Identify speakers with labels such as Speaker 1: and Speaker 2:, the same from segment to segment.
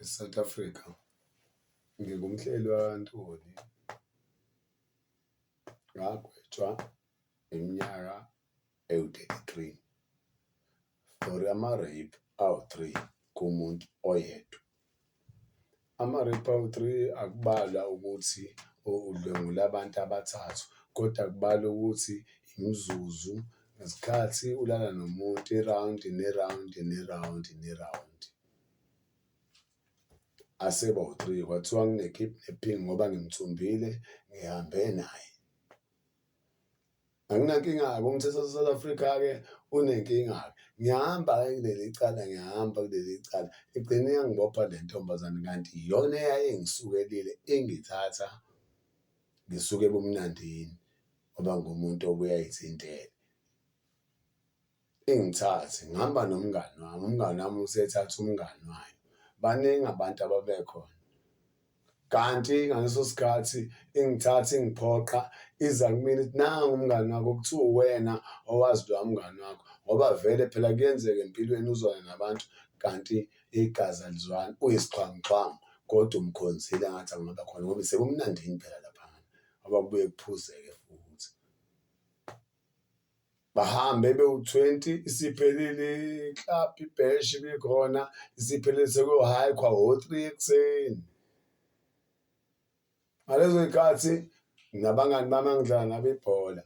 Speaker 1: eSouth Africa ngingumhleli wakwaNtuli ngagwetshwa iminyaka ewu-thirty three for ama-rape awu-three kumuntu oyedwa. Ama-rape awu-three akubalwa ukuthi udlwengule abantu abathathu koda kubalwa ukuthi imizuzu nesikhathi ulala nomuntu irawundi nerawundi nerawundi nerawundi. asebawu-three kwathiwa ngine-kidnapping ngoba ngimthumbile ngihambe naye. Anginankinga-ke umthetho wase-South Africa-ke unenkinga-ke. Ngiyahamba-ke kuleli cala ngiyahamba kuleli cala igcine yangibopha le ntombazane kanti iyona eyayingisukelile ingithatha ngisuke ebumnandini ngoba ngumuntu obuye ayithintele. Ingithathe ngihamba nomngani wami, umngani wami usethatha umngani wayo. Baningi abantu ababekhona kanti ngaleso sikhathi ingithatha ingiphoqa iza kumina ithi nangu umngani wakho kuthiwa uwena owazi lowa mngani wakho ngoba vele phela kuyenzeka empilweni uzwane nabantu kanti igazi alizwani uyisixhwanguxhwangu kodwa umkhonzile ngathi angaba khona ngoba sekumnandini phela laphana ngoba kubuye kuphuzeke futhi. bahambe bewu-20 isiphelile club ibhesh ibikhona isiphelile sekuyohayikhwa wo-three ekuseni ngalezo yikhathi nabangani bami angidlala nabo ibhola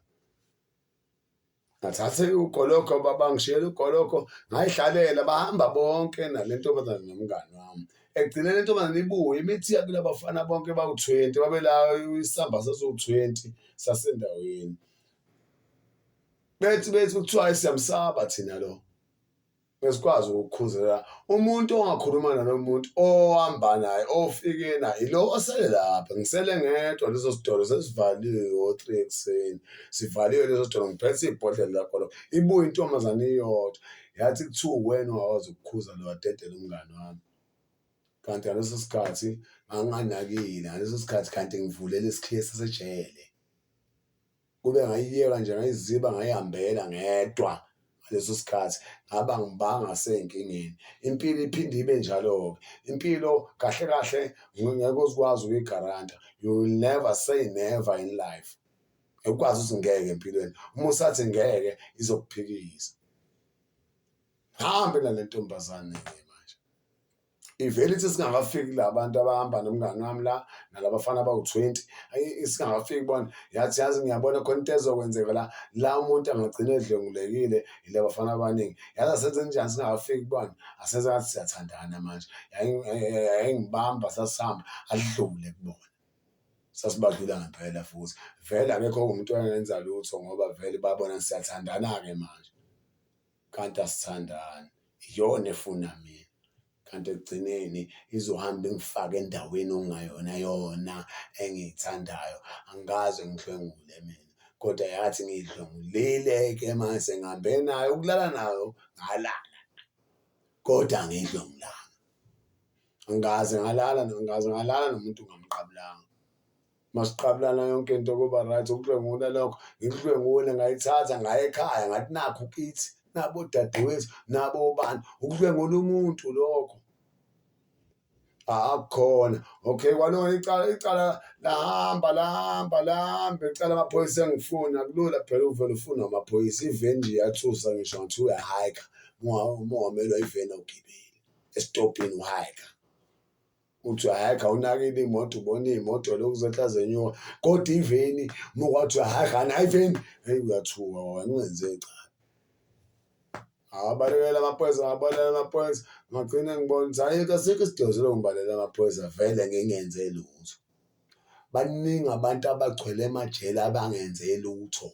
Speaker 1: ngathathe ugoloko babangishiyela ugoloko ngayihlalela bahamba bonke nale ntombazane nomngani wami egcine le ntombazane ibuye imithiya kulabafana bonke bawu-twenty babelayo isamba saziwu-twenty sasendaweni bethi bethi kuthiwa siyamsaba thina lo besikwazi ukukhuzela umuntu ongakhuluma nalowo muntu ohamba naye ofike naye lo osele lapha ngisele ngedwa leso sitolo sesivaliwe o-three ekuseni sivaliwe leso sitolo ngiphethe ibhodlela lakho lo ibuye intombazane iyodwa yathi kuthiwa uwena ungakwazi ukukhuza lo wadedela umngane wami kanti ngaleso sikhathi nganginganakile ngaleso sikhathi kanti ngivulele isikhiye sasejele kube ngayiyeka nje ngayiziba ngayihambela ngedwa ngaleso sikhathi ngaba ngibanga senkingeni impilo iphinde ibe njalo-ke impilo kahle kahle ngeke uzikwazi ukuyigaranta you will never say never in life ukwazi ukuthi ngeke empilweni uma usathi ngeke izokuphikisa hambe nale ntombazane-ke manje. ivele ithi singakafiki la bantu abahamba nomngani wami la nalabafana abawu-20 singakafiki bona yathi yazi ngiyabona khona into ezokwenzeka la la umuntu angagcina edlwengulekile yile bafana abaningi yazi asenze njani singakafiki bona asenze ngathi siyathandana manje yayingibamba sasihamba adlule kubona sasibadlula ngempela futhi vele akekho umuntu oyengenza lutho ngoba vele babona siyathandana-ke manje kanti asithandani iyona efuna mina kanti ekugcineni izohamba ingifake endaweni okungayona yona engiyithandayo angikaze ngihlwengule mina kodwa yathi ngiyidlwengulile-ke mase ngihambe nayo ukulala nayo ngalala kodwa ngiyidlwengulanga angikaze ngalala angikaze ngalala nomuntu ngamqabulanga masiqabulana yonke into kuba right ukudlwengula lokho ngikudlwengule ngayithatha ngaye ekhaya ngathi nakho kithi nabo dadewethu nabo bani ukudlwengula umuntu lokho akukhona okay kwalona icala icala lahamba lahamba lahamba icala amaphoyisa engifuna kulula phela uvele ufuna amaphoyisa iveni nje yathusa ngisho ngathi uyahayika uma ungamelwa iveni awugibeli esitobhini uhayika kuthiwa hhayi khawunakile imoto ubona iy'moto lokhu zehla zenyuka kodwa iveni uma kwathiwa hhayi khani hhayi iveni heyi uyathuka wena ungenze cha awabalekela amaphoyisa awabalekela amaphoyisa ngagcine ngibona ukuthi hhayi kasikho isidingo selo ngibalekela amaphoyisa vele ngingenze lutho baningi abantu abagcwele emajele abangenze lutho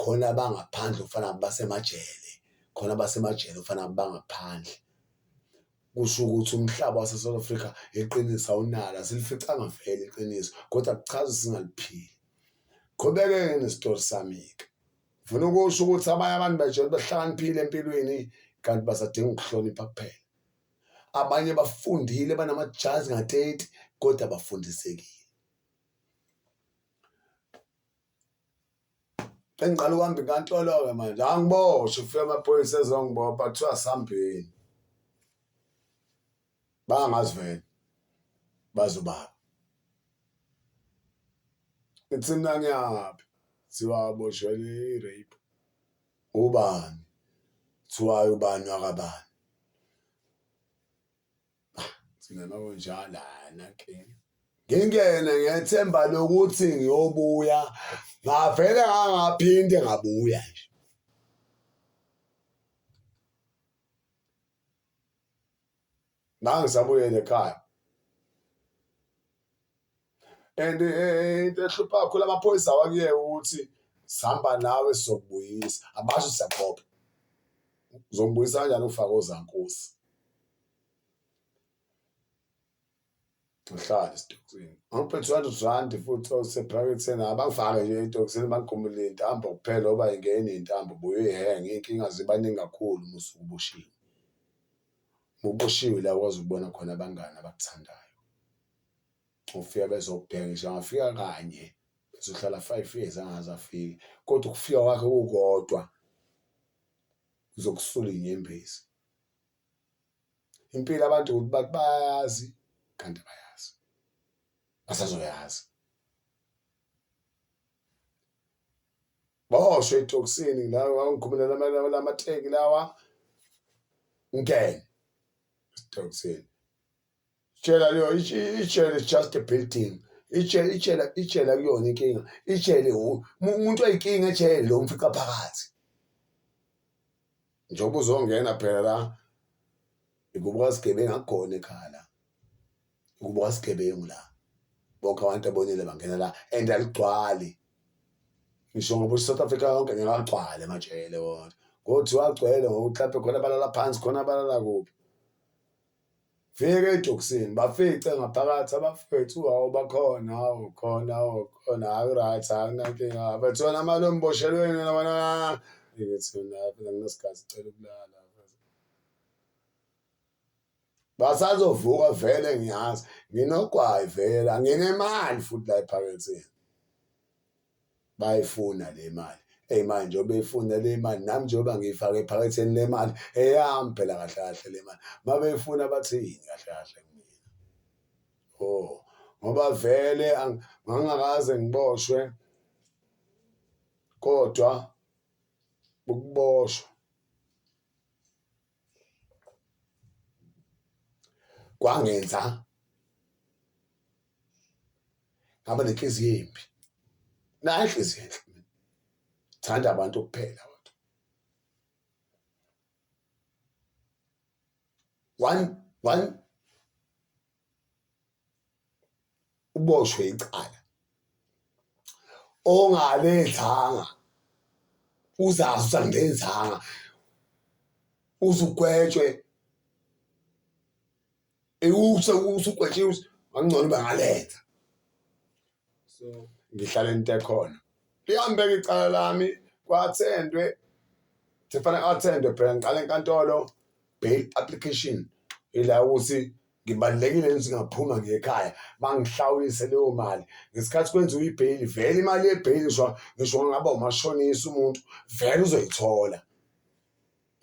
Speaker 1: khona abangaphandle ufana basemajele khona basemajele ufana bangaphandle Kusho ukuthi umhlaba waseSouth Africa iqiniso awunalo, asilificanga vele iqiniso kodwa kuchaza singaliphili. Qhubeke-ke nesitori sami-ke. Ngifuna ukusho ukuthi abanye abantu bajele bahlakaniphile empilweni kanti basadinga ukuhlonipha kuphela. Abanye bafundile banamajazi ngateti kodwa bafundisekile. Engiqala ukuhamba inkantolo-ke manje angiboshwe kufika amaphoyisa ezongibopha kuthiwa sambheni bangazi vele bazobaba ithi mina ngiyaphi kuthiwa aboshwele i-rape ubani kuthiwayo ubani wakabani Singena kunjalana ke. Ngingene ngethemba lokuthi ngiyobuya ngavele ngangaphinde ngabuya nje. Ngangisabuyele ekhaya. and eh, into ehlupha kakhulu amaphoyisa wakuyeka ukuthi sihamba nawe sizokubuyisa abasho siyaqopha uzombuyisa kanjani ufake ozankosi uhlale esitokisini angiphe 200 rand futhi osephaketheni abangifake nje etokisini bangigumule intambo kuphela oba ingene intambo buye uyihenge iy'nkinga zibaningi kakhulu musuke uboshiwe muboshiwe la ukwazi ukubona khona abangani abakuthandayo ukufika bezokubheka ngisho angafika kanye bezohlala five years angaze afike kodwa ukufika kwakhe kukodwa uzokusula inyembezi impilo abantu ukuthi bathi bayazi kanti bayazi basazoyazi bosho etoksini la ngikhumula lamateki lawa ngene etoksini Tshela leyo itshela is just a building. Itshela itshela itshela kuyona inkinga. Itshele umuntu oyikinga etshele lo mfica phakathi. Njengoba uzongena phela la ikubuka sigebengu akukhona ekhaya la. Ikubuka sigebengu la. Bonke abantu abonile bangena la and aligcwali. Ngisho ngoba iSouth Africa yonke ngeke agcwale emajele wona. Kodwa agcwele ngokuthi lapho khona balala phansi khona balala kuphi. Fika ejokisini bafice ngaphakathi abafethu hawu bakhona hawu khona hawu khona hayi right hayi nankinga abethu wena mali omboshelweni wena wena ngithi mina phela nginesigazi cela ukulala basazovuka vele ngiyazi nginogwayi vele anginemali futhi la ephaketheni bayayifuna le mali eyi manje njengoba beyifuna le mali nami njengoba ngiyifake ephaketheni le mali eyami phela kahle kahle le mali uma beyifuna bathini kahle kahle kumina o oh, ngoba vele ngangakaze ngiboshwe kodwa ukuboshwa kwangenza ngaba nenhliziyo embi nayo inhliziyo enhle mina thanda abantu kuphela wethu one one uboshwe icala ongalenzanga uzazi usangenzanga uzugwetshwe iwuse uwuse ugwetshiwe ngangcono bangaletha so ngihlala into ekhona lihambeka icala lami kwathendwe sefana athendwe phela ngiqala enkantolo bail application ila ukuthi ngibalulekile ukuthi ngaphuma ngekhaya bangihlawulise leyo mali ngesikhathi kwenziwa ibheyili vele imali yebheyili ngisho ngisho ngaba umashonisa umuntu vele uzoyithola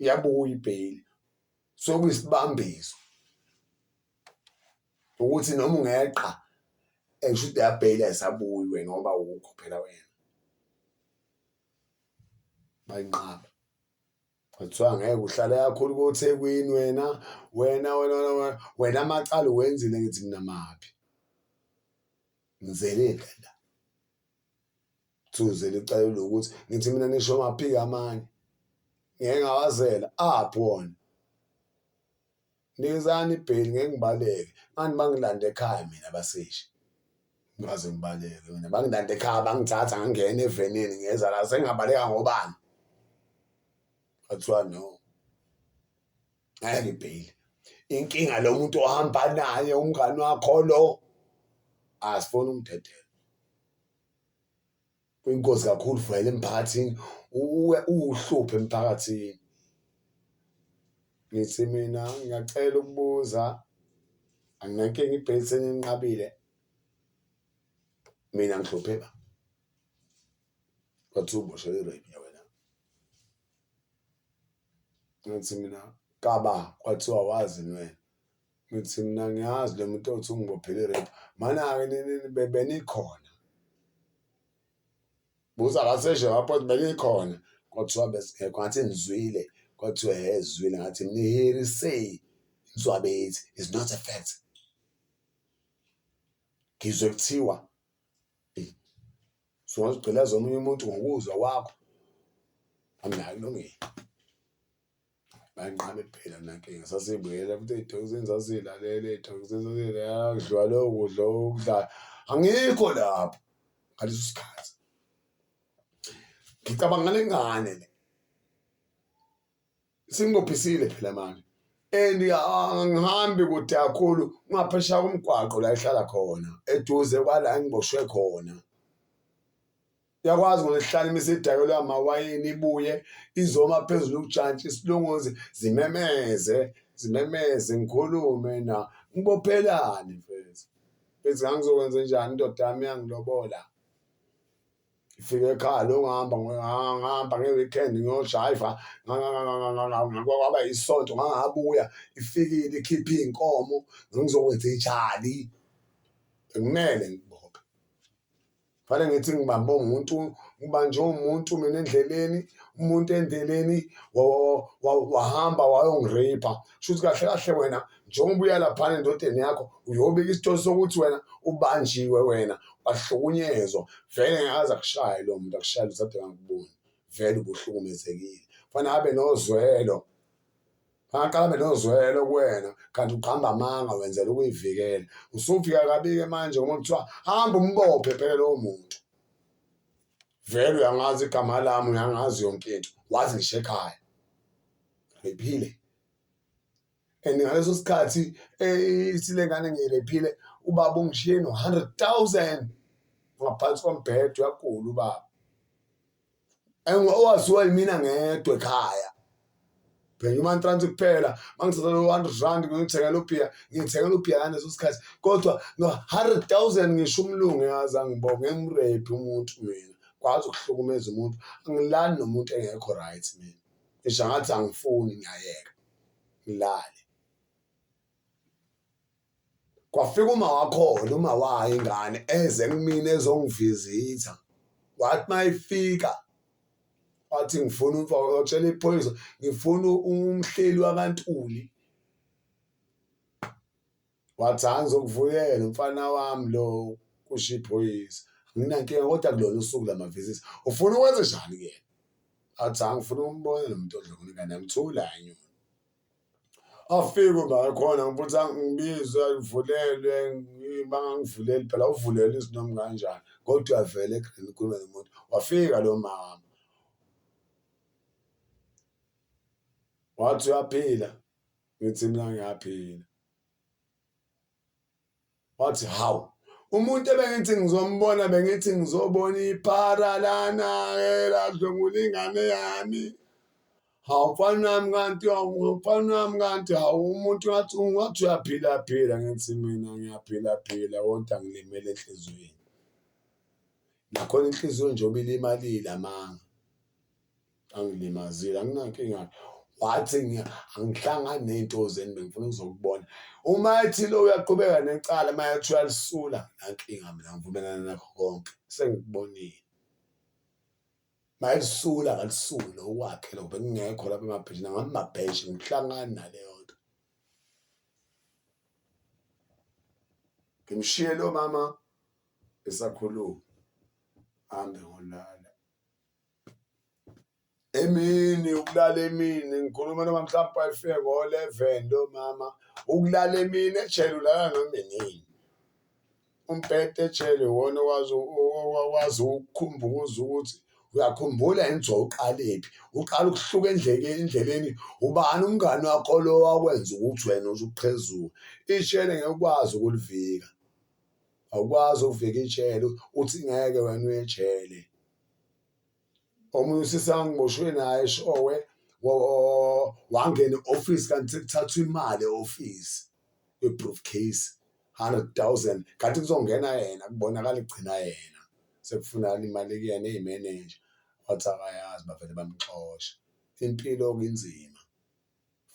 Speaker 1: iyabuya ibheyili sokuyisibambiso ukuthi noma ungeqa esho ukuthi yabheyila esabuyi wena ngoba ukho phela wena bayinqaba kuthiwa ngeke uhlale kakhulu kothekwini wena wena wena wena amacala uwenzile ngithi mina maphi ngizelile la Thuze licalule ukuthi ngithi mina nisho amaphiki amanye ngeke ngawazela aphi wona nikezani ibheli ngeke ngibaleke mani bangilanda ekhaya mina basishi ngaze ngibaleke mina bangilanda ekhaya bangithatha ngangena evenini ngeza la sengingabaleka ngobani kwathiwa no ngeke ibheyili inkinga lo muntu ohamba naye umngani wakho lo asifuni umdedela kuyingozi kakhulu vele emphakathini uwe uwuhluphe emphakathini ngithi mina ngiyacela ukubuza anginankinga ibhesi eninqabile mina ngihluphe ba wathi uboshelwe rape wena ngithi mina kaba kwathiwa wazi nwena ngithi mina ngiyazi le muntu othi ungibophele i-rape mana-ke benikhona buza kaseshe wapho benikhona kwathiwa besingekho ngathi nizwile kwathiwa he zwile ngathi niherisey inswa bethi is not a fact ngizwe kuthiwa Sungazigqilaza omunye umuntu ngokuzwa kwakho anginalo ilungelo banqabe phela nankinga sasibuyela futhi ey'thokozini sasilalele ey'thokozini sasilalele kudliwa leyo kudla okudlala angikho lapho ngaleso sikhathi ngicabanga ngale ngane le sinqophisile phela manje and angihambi kude kakhulu ungaphesha komgwaqo la ehlala khona eduze kwala engiboshwe khona yakwazi ngoba sihlala imisidakelo yamawayini ibuye izoma phezulu ukujantshi isilunguzi zimemeze zimemeze ngikhulume na ngibophelani mfethu mfethu ngangizokwenza njani indoda yami yangilobola ngifika ekhaya lo ngihamba ngihamba nge-weekend ngiyojayiva kwaba isonto ngangabuya ifikile ikhiphe iy'nkomo ngizokwenza ijali bekumele ngibophe fanele ngithi ngibambe umuntu ngibanjwe umuntu mina endleleni umuntu endleleni wahamba wayongireyipha shuthi kahle kahle wena njengoba ubuya laphana endodeni yakho uyobika isithole sokuthi wena ubanjiwe wena wahlukunyezwa vele ngakaze akushaye lo muntu akushaye luthathe ngakuboni vele ubuhlukumezekile fanele abe nozwelo angaqala abe nozwelo kuwena kanti uqamba amanga wenzela ukuyivikela usufika kabike manje ngoba kuthiwa hamba umbophe phela lowo muntu vele uyangazi igama lami uyangazi yonke into wazi ngisho ekhaya ngiphile and ngaleso sikhathi eh, isilengane ngiyirephile ubaba ungishiye no-hundred thousand ngaphansi kombhedo uyagula ubaba owaziwa yimina ngedwa ekhaya bhenya umantrans kuphela mangisathola u-hundred rand ngithengela ubhiya ngithengela ubhiya ngaleso sikhathi kodwa no-hundred thousand ngisho umlungu yazi angibonge ngimrephi umuntu mina kwazi ukuhlukumeza umuntu angilani nomuntu engekho right mina ngisho ngathi angifuni ngiyayeka ngilale kwafika uma wakhona uma wayo ingane eze kumina ezongivizitha wathi uma ifika wathi ngifuna umfowotshela iphoyisa ngifuna umhleli wakantuli Wathi hhayi ngizokuvuyela umfana wami lo kusho iphoyisa anginankinga kodwa kulona usuku lamavisisi ufuna ukwenze njani kuyena athi hhayi ngifuna ukumbona lo muntu odlokona ingane yami thula anyoni afike umaka khona ngibuthi ngibizwe ngivulelwe bangangivuleli phela uvulele izinoma kanjani kodwa uyavele egreen kulo nomuntu wafika lo mama wathi uyaphila ngithi mina ngiyaphila wathi hawu umuntu ebengithi ngizombona bengithi ngizobona iphara lana-ke ladlwengula ingane yami hawu mfana wami kanti mfana wami kanti hawu umuntu ngathi ungathi uyaphila phila ngithi mina ngiyaphila phila kodwa ngilimele enhliziyweni nakhona inhliziyo njengoba ilimalile amanga angilimazile anginankinga wathi angihlangani ney'nto zenu bengifuna ukuzokubona uma ethi lo uyaqhubeka necala uma yathi uyalisula nankinga mina ngivumelana nakho konke sengikubonile mayisula akalisuli lokwakhe lokho bengingekho lapha emabheshini ngamabheshi ngihlangani naleyo nto ngimshiye lo mama esakhuluma hambe ngolala emini ukulala emini ngikhuluma noma mhlawumbe ayifike ngo-eleven lo mama ukulala emini ejele ulala noma inini umbhede ejele iwona owazi owazi ukukhumbuza ukuthi uyakhumbula yini nje uqalephi uqala ukuhluka endlekeni endleleni ubani umngani wakho lo wakwenza ukuthi wena uze uqhezuke ishele ngeke ukwazi ukulivika awukwazi ukuvika ijele uthi ngeke wena uyejele. omunye usisi angiboshwe naye showe wangena e-ofisi kanti sekuthathwa imali e-ofisi kwi-proof case hundred thousand kanti kuzongena yena kubonakala igcina yena sekufunakala imali kuyena eyimeneja wathi akayazi bavele bamxosha impilo okunzima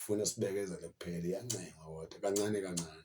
Speaker 1: funa sibekezele kuphela iyancengwa kodwa kancane kancane.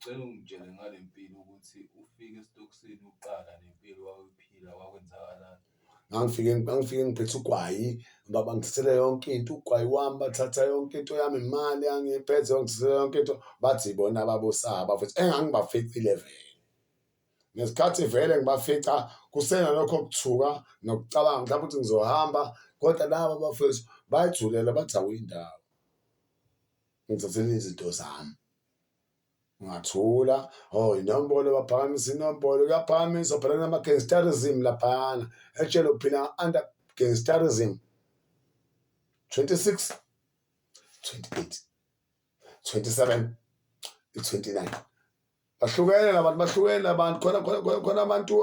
Speaker 2: Ngicela ungitshele ngale mpilo ukuthi ufike
Speaker 1: esitokisini uqala nempilo wawuphila kwakwenzakalani. Ngangifike ngangifike ngiphethe ugwayi baba ngithathele yonke into ugwayi wami bathatha yonke into yami imali angiphethe ngithathele yonke into bathi bona babosaba futhi engangibaficile vele ngesikhathi vele ngibafica kusena lokho kuthuka nokucabanga mhlawumbe ukuthi ngizohamba kodwa laba bafethu bayithulela bathi awuyindawo ngithathele izinto zami. Ngathula, oh inombolo baphakamisa inombolo, kuyaphakamisa phela kunama-gangsterism laphayana etshelo phila under gangsterism 26 28 27 29 bahlukene labantu bahlukene labantu khona khona khona khona abantu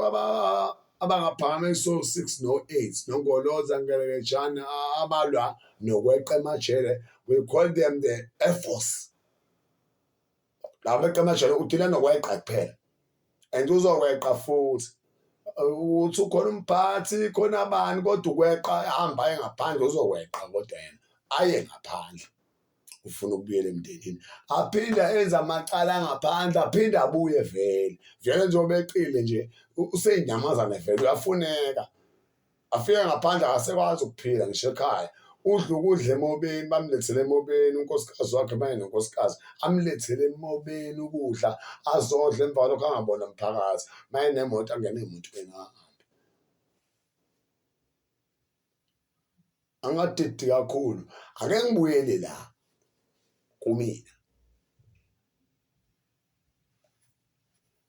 Speaker 1: abangaphakama iso 6 no 8 nongoloza ngelekejana abalwa nokweqa emajele we call them the air force la meqa amajele udila nokweqa kuphela and uzokweqa futhi ukuthi ukhona umphathi khona abani kodwa ukweqa ehamba aye ngaphandle uzokweqa kodwa yena aye ngaphandle ufuna ukubuyela emndenini aphinde enze amacala ngaphandle aphinde abuye vele vele njengoba eqile nje useyinyamazane vele uyafuneka afike ngaphandle akasekwazi ukuphila ngisho ekhaya udla ukudla emobeni bamlethele emobeni unkosikazi wakhe maye nonkosikazi amlethele emobeni ukudla azodla emva kwalokho angabona mphakathi maye nemoto angene emotweni ahambe angadidi kakhulu ake ngibuyele la kumina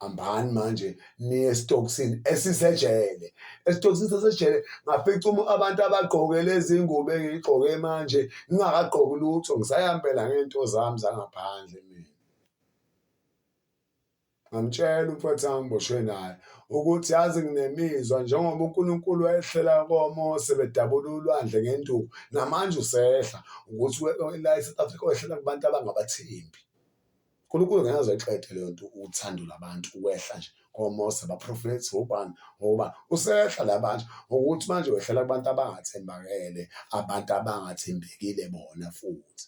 Speaker 1: hambani manje niye esitokisini esisejele esitokisini sasejele ngafica abantu abagqoke lezi ngubo engiyigqoke manje ngingakagqoki lutho ngisayambela ngey'nto zami zangaphandle mina ngamtshela umfowethu angiboshwe naye ukuthi yazi nginemizwa njengoba uNkulunkulu wayehlela koMose bedabula ulwandle ngenduku namanje usehla ukuthi la eSouth Africa wehlela kubantu abangabathembi uNkulunkulu ngeke aze eqede leyo nto uthando labantu ukwehla nje komose baprofethi wobani ngoba usehla la manje ngokuthi manje wehlela kubantu abangathembakele abantu abangathembekile bona futhi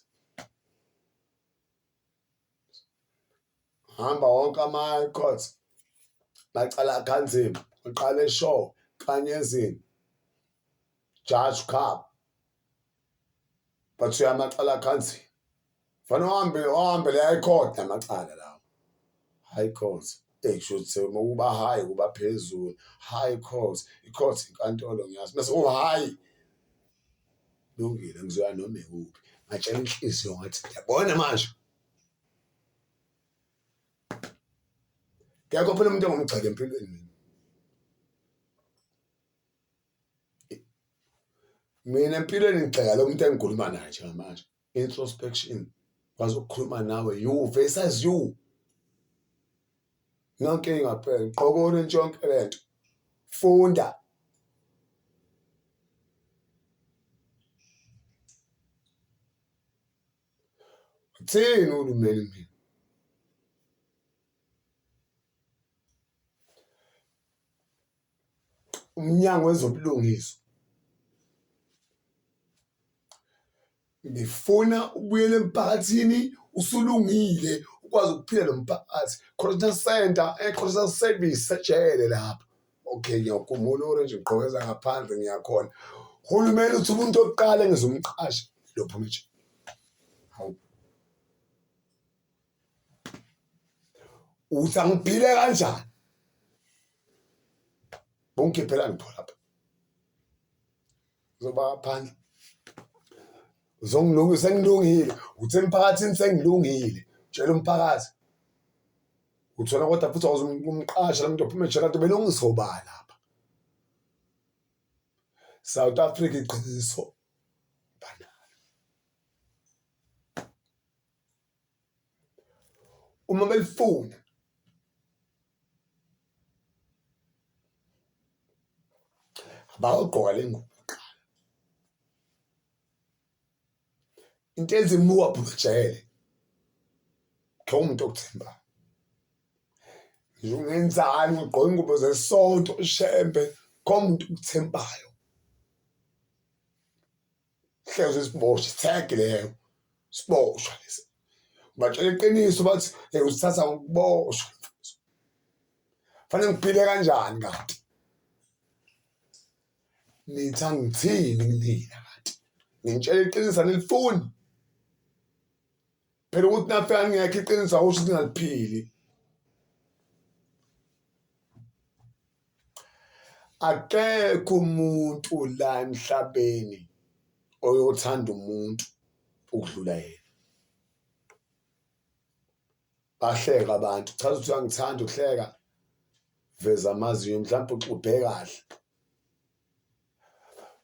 Speaker 1: hamba wonke ama-court bacala kanzima uqale show kanyezini judge cup bathiwe amacala akhanzile fanele uhambe ohambele high court namacala lawo high court eyi kushuthi ukuba high kuba phezulu high court i-court inkantolo ngiyazi bese u-high lungile ngizoya noma ikuphi ngatshela inhliziyo ngathi yabona manje kekho phela umuntu engomgxeka empilweni mina mina empilweni ngigxeka lo muntu engikhuluma naye njengamanje introspection kwazi ukukhuluma nawe you versus you nankinga phela gqoka orange yonke lento funda thini ulumeli mina umnyango wezobulungiswa ngifuna ubuyele emphakathini usulungile ukwazi ukuphila nomphakathi correctional center e-correctional eh, service sejele lapho okay ngiyakukhumula orange ngigqokeza ngaphandle ngiyakhona uhulumeni uthi umuntu oqala ngizomqasha lopho manje uthi angiphile kanjani bongikhiphela ngipho lapha zoba phandle uzongilunga sengilungile uthi emphakathini sengilungile tshela umphakathi uthola kodwa futhi awuzumqasha lamuntu ophuma ejela nto belungisobala lapha South Africa iqiniso Uma belifuna abawugqoka le ngubo kuqala into ezimuka bhujele khe umuntu okuthemba ungenzani ugqoka ingubo zesonto ushembe kho umuntu okuthembayo hlezi isiboshwe sithege leyo siboshwa lesi batshela iqiniso bathi hey usithatha ukuboshwa fanele ngiphile kanjani kanti nitha ngithini kunina kanti ngintshela iqiniso anilifuni phela ukuthi nafe angekho iqiniso awusho ukuthi ngaliphili akekho umuntu la emhlabeni oyothanda umuntu ukudlula yena bahleka abantu chaza ukuthi uyangithanda uhleka veza amazinyo mhlawumbe uxubhe kahle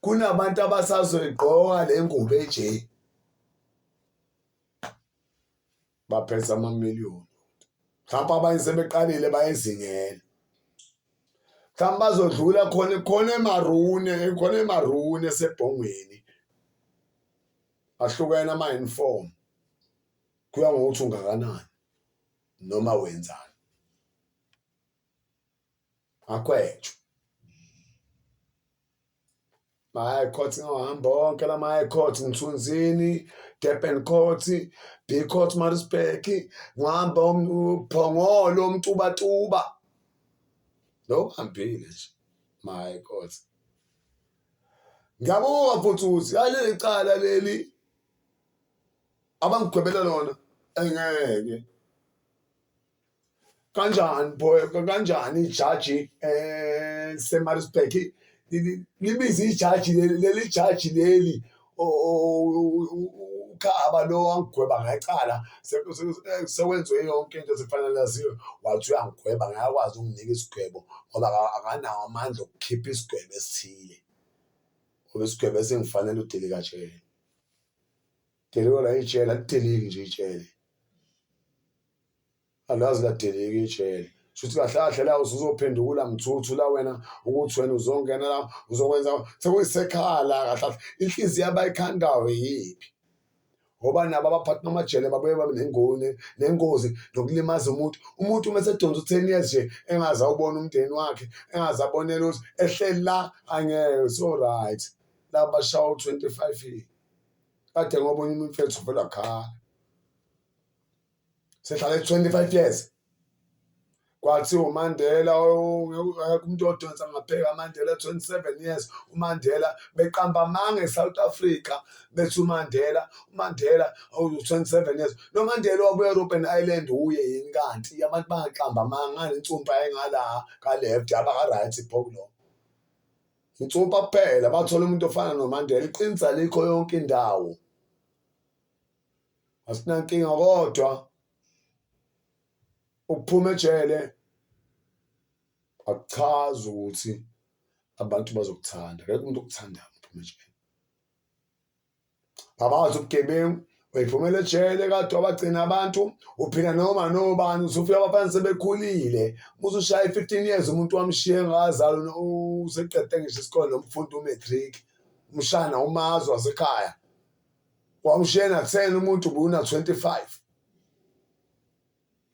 Speaker 1: kunabantu abasazoyigqoka le ngubo enje baphethe amamiliyoni mhlawumbe abanye sebeqalile bayezingela mhlawumbe bazodlula khona khona emarune khona emarune esebhongweni ahlukene ama-uniform kuya ngokuthi ungakanani noma wenzani makhwetsho ma-high court ngawahamba onke la ma-high court mthunzini durban court b court marisburg ngihamba uphongolo umtubatuba lo hambile nje ma-high court ngiyabuka futhi ukuthi yaleli cala leli abangigwebela lona engeke kanjani kanjani ijaji eh semarisburg libiza ijaji leli jaji leli ukhaba lo wangigweba ngecala sekwenziwe yonke into sekufanele laziwe wathi uyangigweba ngayakwazi ukunginika isigwebo ngoba akanawo amandla okukhipha isigwebo esithile ngoba isigwebo esingifanele udelikajele Delikwa la ijele alideleki nje ijele. Alazi ladeleki ijele. Shuthi kahle kahle la usuzophendukula mthuthu la wena ukuthi wena uzongena la uzokwenza sekuyisekhaya la kahle kahle inhliziyo abayikhandayo yiphi ngoba nabo abaphathi bamajele babuye babe nengoni nengozi nokulimaza umuntu umuntu uma esedonsa u-ten years nje engaze awubona umndeni wakhe engaze abonele ukuthi ehleli la angeke so right la bashawa u-twenty five years Kade ngoba unyuma umfethu vela khala. Sehlale 25 years. Kwathi uMandela umuntu odonsa ngapheka uMandela 27 years uMandela beqamba amanga eSouth Africa bethi uMandela uMandela awu 27 years lo Mandela waku Europe and Ireland uye yini kanti abantu bangaqamba amanga ngani insumpa engala ka left abaka right phoklo Ngicupha kuphela bathola umuntu ofana noMandela iqinisa likho yonke indawo asinankinga kodwa ukuphuma ejele akuchazi ukuthi abantu bazokuthanda akekho umuntu okuthanda ukuphuma ejele ngabazi ubugebengu uyiphumela ejele kade wabagcina abantu uphila noma nobani usufika abafana sebekhulile musushaya i-fifteen years umuntu wamshiye engakazalwa useqede ngisho isikole nomfundi umatric umshana umazi wasekhaya wamshiye na-ten umuntu ubuna-twenty-five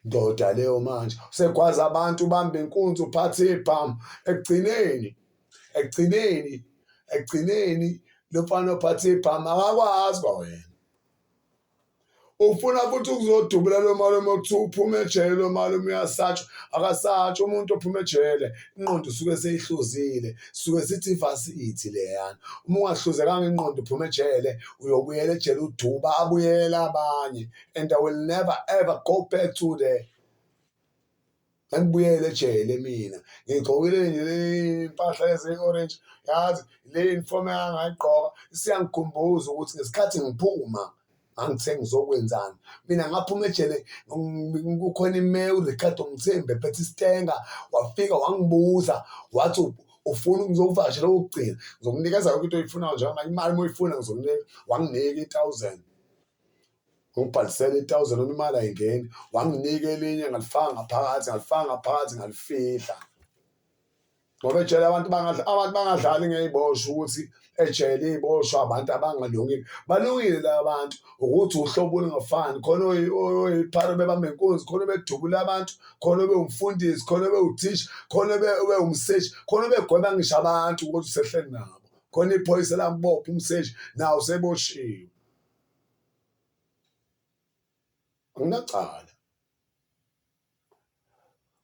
Speaker 1: ndoda leyo manje usegwaza abantu ubamba inkunzi uphathe ibhamu ekugcineni ekugcineni ekugcineni lo mfana ophathe ibhamu akakwazi kwa wena ufuna futhi ukuzodubula lo malume okuthiwa uphume ejele lo malume uyasatshwa akasatshwa umuntu ophume ejele inqondo usuke seyihluzile suke sithi ifasithi leyana uma ungahluzekanga inqondo uphume ejele uyobuyela ejele uduba abuyele abanye and i will never ever go back to the ngangibuyele ejele mina ngigqokile nje impahla yase-orange yazi le uniform yangayigqoka isiyangikhumbuza ukuthi ngesikhathi ngiphuma ngangithe ngizokwenzani mina ngaphuma ejele kukhona imeya uricardo mthembe phethe isitenga wafika wangibuza wathi ufuna ngizokuvakashela okugcina ngizokunikeza yonke into oyifunayo njengamanje imali uma uyifuna ngizokunika wanginika i-thousand ngibhalisele i-thousand noma imali ayingeni wanginika elinye ngalifaka ngaphakathi ngalifaka ngaphakathi ngalifihla ngoba ejele abantu bangadla abantu bangadlali ngey'boshwa ukuthi ejele iy'boshwa abantu abangalungile balungile la bantu ukuthi uhlobo olungafani khona oyiphara bebambe nkunzi khona obedubula abantu khona obewumfundisi khona obewuthisha khona obewumseshi khona obegweba ngisho abantu ukuthi usehleli nabo khona iphoyisa lambopha umseshi nawo useboshiwe Anginacala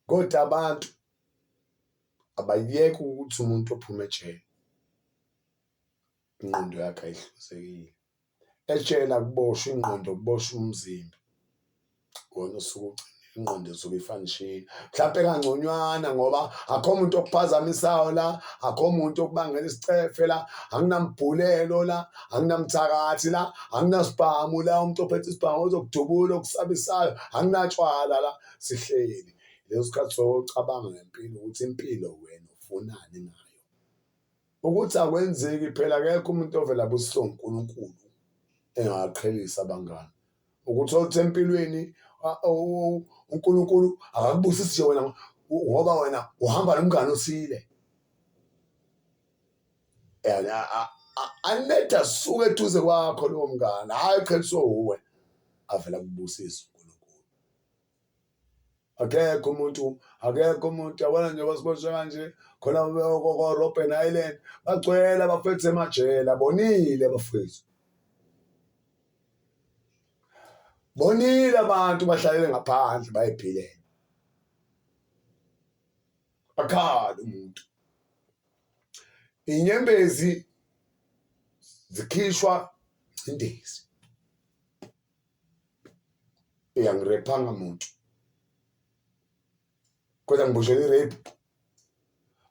Speaker 1: kodwa abantu abayeke ukuthi umuntu ophume ejele ingqondo yakhe ayihlanzekile ejele akuboshwa ingqondo kuboshwa umzimba. wona usuke ugcina ingqondo esuke ifanishile mhlawumpe kangconywana ngoba akho muntu okuphazamisayo la akho muntu okubangela isicefe la anginambhulelo la anginamthakathi la anginasibhamu la umuntu ophethe isibhamu ozokudubula okusabisayo anginatshwala la sihleli leso sikhathi socabanga ngempilo ukuthi impilo wena ufunani ngayo Ukuthi akwenzeki phela akekho umuntu ovela abusiswe uNkulunkulu engaqhelisa abangani ukuthi othi empilweni uNkulunkulu akakubusisi nje wena ngoba wena uhamba nomngane osile and anetha suke eduze kwakho lowo mngane hhayi qheliswe uwe avela kubusisa akekho umuntu akekho umuntu yabona nje basiboshwe kanje khona ko-robben island bagcwele abafethu emajele abonile abafethu bonile abantu bahlalele ngaphandle bayiphilela akhali umuntu inyembezi zikhishwa ingcindezi eyangirephanga muntu kodwa ngiboshele i-rape